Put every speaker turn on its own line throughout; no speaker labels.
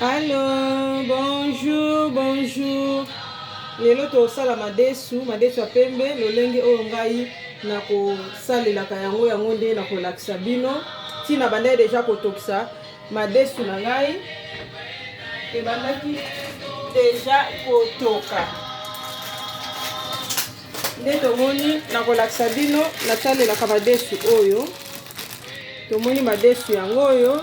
Allo, bonjour, bonjour. Lelo tosala madesu, madesu ya pembe, lolenge oyo ngai nakosalelaka yango yango nde nakolakisa bino. Tina bandai deja kotokisa madesu na ngai ebandaki deja kotoka nde tomoni nakolakisa bino natalelaka madesu oyo tomoni madesu yango oyo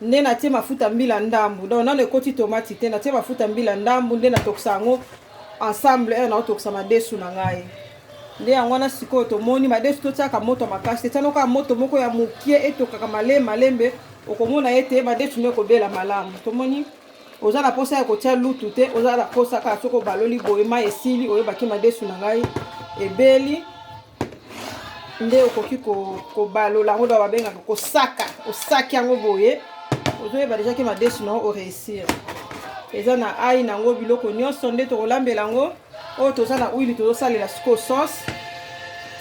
nde natie mafuta mbila ndambu donc nano ekoti tomati te natie mafuta mbila ndambu nde natokisa yango ensemble heure naotokisa madesu na ngai nde yango wana sikoyo tomoni madesu totiaka moto makasi te tianokaa moto moko ya mokie etokaka male malembe okomona ete madesu no ekobela malamu tomoni oza na posa ya kotia lutu te oza na posa kaka soki obaloli boye mai esili oyebaki madesu na ngai ebeli nde okoki kobalola yango da babengaka kosaka osaki yango boye ozoyeba deja ke madesu na yango oreusir eza na ai na yango biloko nyonso nde tokolambela yango oyo toza na huile tozosalela sikoyo sauce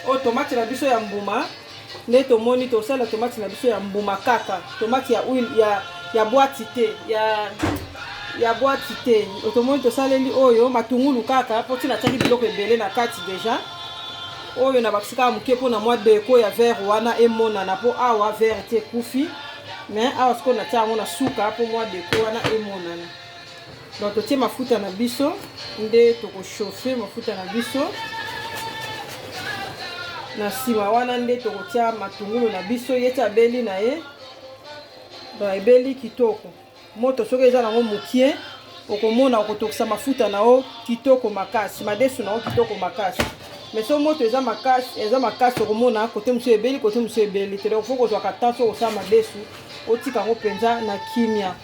oyo tomate na biso ya mbuma nde tomoni tosala tomati na biso ya mbuma kaka tomati ya huile ya, ya bwati te ya ya bwati te tomoni tosaleli oyo matungulu kaka mpo ntina atiaki biloko ebele na kati deja oyo na bakisi kaka moke mpo na mwa deko ya vere wana emonana mpo awa vere te ekufi me awa sikoyo natya yango na suka mpo mwa deko wana emonana donc totie mafuta na biso nde tokochauffe mafuta na biso na nsima wana nde tokotia matungulu na biso ye ti abeli na ye donc ebeli kitoko moto soki eza nango mokie okomona okotokisa mafuta na yo kitoko makasi madesu na yo kitoko makasi mais so moto eza makasi eza makasi okomona kote mosusu ebeli kote mosusu ebeli te donc fo kozwaka temps so kosala madesu otika yango mpenza na kimia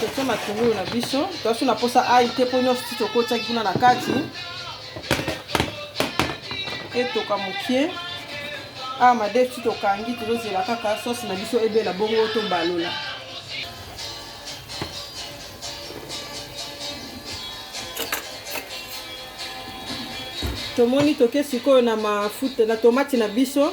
totie matungulu na biso toasi na mposa ai te mpo nyonso ti tokotiaki kuna na kati etoka moke awa madefu ti tokangi tozozela kaka sosi na biso ebela bongo tobalola tomoni toke sikoyo na mafuta na tomati na biso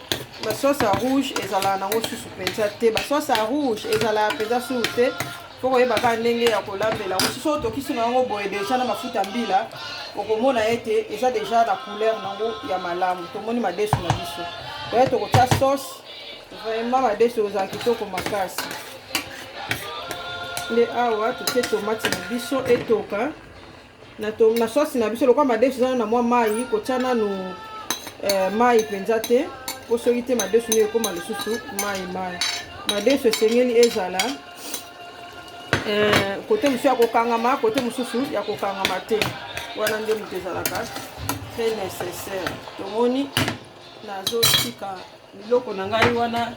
ba sauce ya rouge ezalaka nango susu mpenza te ba sauce ya rouge ezalaka mpenza susu te mpo koyeba kaka ndenge ya kolambela yango soso otokisi na yango boye deja na mafuta mbila okomona ete eza deja na couleur nango ya malamu tomoni madesu na biso oye tokotya sauce vraiment madesu ozala kitoko makasi nde awa totie tomati na biso etoka na, to, na sosi na biso lokola madesu eza na mwa mai kotya nanu eh, mai mpenza te mpo soki te madesu nde ekoma lisusu mai mai madesu esengeli ezala eh, kote mosusu ya kokangama kote mosusu ya kokangama te wana nde moto ezalaka très nécessaire tomoni nazotika biloko na ngai wana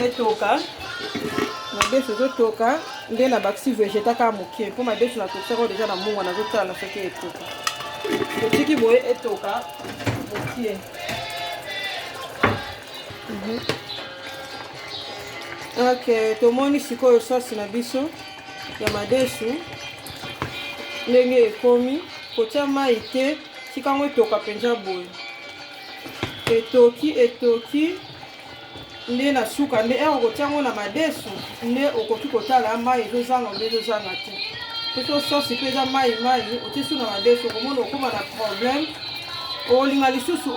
etoka madesu ezotoka nde na bakisi vegeta kaka moke mpo madesu natokisaka deja na mungwa nazotala na soki etoka otiki boye etoka moke mhm. ok tomoni sikoyo sosi na biso ya madesu ndenge ekomi kotya mai te tika yango etoka mpenza boye etoki etoki nde na suka nde ere okotia yango na madesu nde okoki kotala mai ezozanga mpe ezozanga te soso sosi mpe eza mai mai otisu na madesu okomona okoma na problème olinga lisusu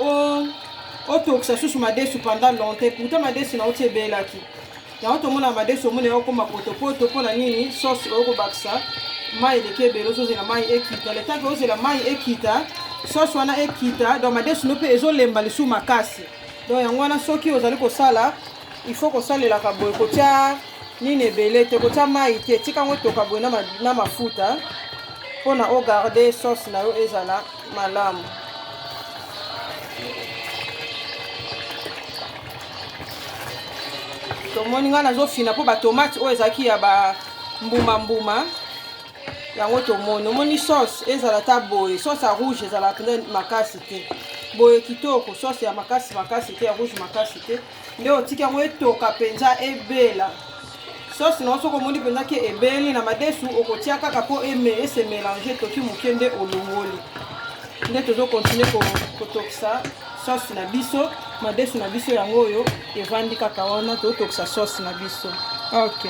otokisa susu madesu pendant longtemps pourtant madesu na oti ebelaki yango tomona madesu omona ya okoma potopoto mpo na nini sauce oyo kobakisa mai eleki ebele ozozela mai ekita letake ozela mai ekita sauce wana ekita donc madesu no mpe ezolemba lisusu makasi donc yango wana soki ozali kosala il faut kosalelaka boye kotya nini ebele te kotya mai te tika yango etoka boye na mafuta mpo na ogarde sauce na yo ezala malamu. Tomoni ngai nazofina mpo batomate oyo ezalaki ya ba mbuma mbuma yango tomoni omoni sauce ezala ata boye sauce ya rouge ezala mpenza makasi te boye kitoko sauce ya makasi makasi te ya rouge makasi te nde otiki yango etoka mpenza ebela sosi na yo soki omoni mpenza ke ebeli na madesu okotia kaka mpo eme ese mélange toki moke nde olongoli nde tozokontinue kotokisa sosi na biso madesu na biso yango oyo evandi kaka wana totokisa sosi na biso ok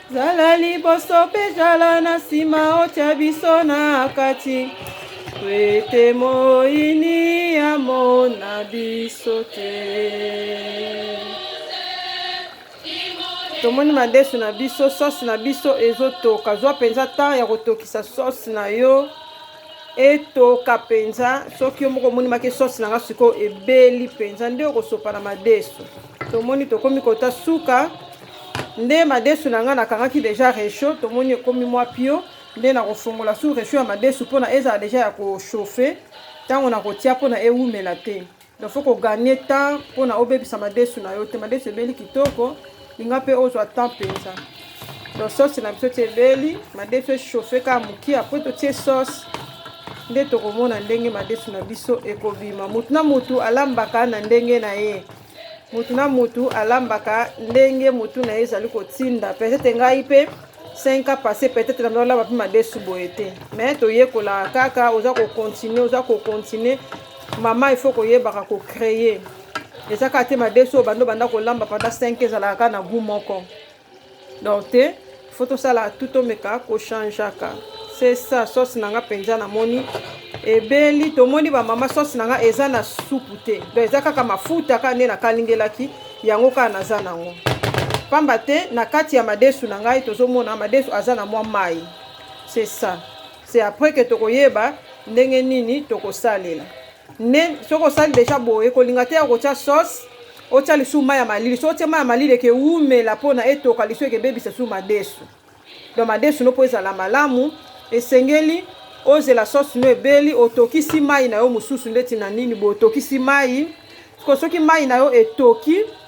Zala liboso mpe zala na nsima, otya biso na kati po ete moyini amona biso te. tomoni madesu na biso sauce na biso ezotoka zwa mpenza temps ya kotokisa sauce na yo etoka mpenza soki yo moko omoni make sauce na nga sikoyo ebeli mpenza nde okosopa na madesu tomoni tokomi kota suka nde madesu na ngai nakangaki deja rechaud tomoni ekomi mwa pio nde nakofongola su rechaud ya madesu mpona ezala deja ya kochauffe ntango nakotia mpona ewumela te donc faut koganye temps mpona obebisa madesu na yo te madesu ebeli kitoko linga mpe ozwa temps mpenza donc sauce na biso ti ebeli madesu echauffe kaka moke apres totie sauce nde tokomona ndenge madesu na biso ekobima motu na motu alambaka na ndenge na ye motu na motu alambaka ndenge motu na ye ezali kotinda peut-être ngai mpe 5 ans passé peut-être na olamba mpe madesu boye te mais toyekolaka kaka oza kocontinue oza kocontinue mama il faut koyebaka kocreye eza kaka te madesu oyo bando banda kolamba pendant 5 ezalaka kaka na gout moko donc te faut tosala tout tomeka kochangeaka c'est ça sauce na nga mpenza namoni ebeli tomoni bamama sauce na nga eza na supu te donc eza kaka mafuta kaka nde nakalingelaki yango kaka naza nango pamba te na kati ya madesu na ngai tozomona madesu aza na mwa mai c'est ça c'est après que tokoyeba ndenge nini tokosalela Ne soki osali deja boye ekolinga te ya kotia sauce otia lisusu mai ya malili soki otie mai ya malili ekewumela mpona etoka lisu ekebebisa lisusu madesu donc madesu no mpo ezala malamu esengeli ozela sauce no ebeli otokisi mai na yo mosusu ndeti na nini boye otokisi mai soki mai na yo etoki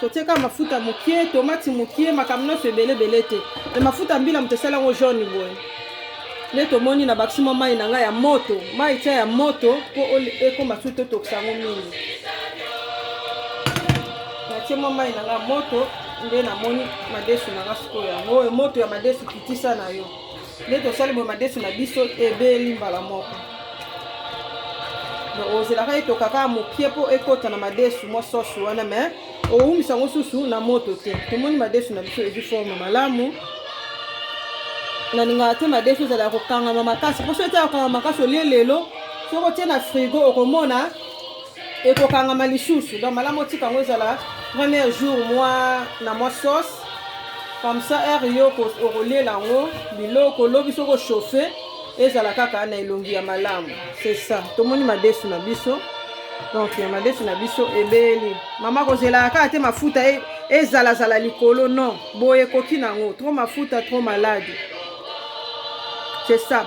totie kaka mafuta mokie tomati mokie makambo nyonso ebele ebele te me mafuta mbila moto esali yango jaune boye nde tomoni na bakisi mwa mai na ngai ya moto mai tia ya moto mpo ekoma su totokisa yango mingi natie mwa mai na ngai ya moto nde namoni madesu na ngai sikoyo yango oyo moto ya madesu kitisa na yo nde tosali boye madesu na biso ebeli mbala moko donc ozelaka ete okaka mokie mpo ekota na madesu mwa sosi wana mais owumisa yango susu na moto te tomoni madesu na biso ezwi forme malamu nalingaka te madesu ezala ya kokangama makasi mpo soki ete ya kokangama makasi olie lelo soki otie na frigo okomona ekokangama lisusu donc malamu otika yango ezala premier jour mwa na mwa sauce comme ça heure yo okolela yango biloko lobi soki ochauffe ezala kaka na elongi ya malamu c'est ça tomoni madesu na biso donc ya madesu na biso ebeli mama kozelaka kaka te mafuta e, ezalazala likolo non boye ekoki na yango trop mafuta trop malade c'est ça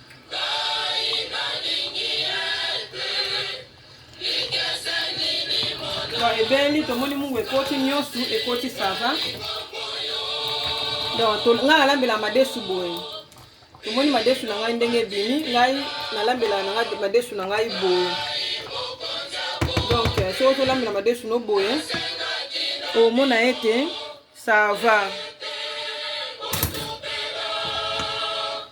donc ebeli tomoni mungu ekoti nyonso ekoti sava donc ngai nalambela madesu boye tomoni madesu na ngai ndenge ebimi ngai nalambela na ngai madesu na ngai boye donc euh, soki tolambela madesu no boye omona ete sava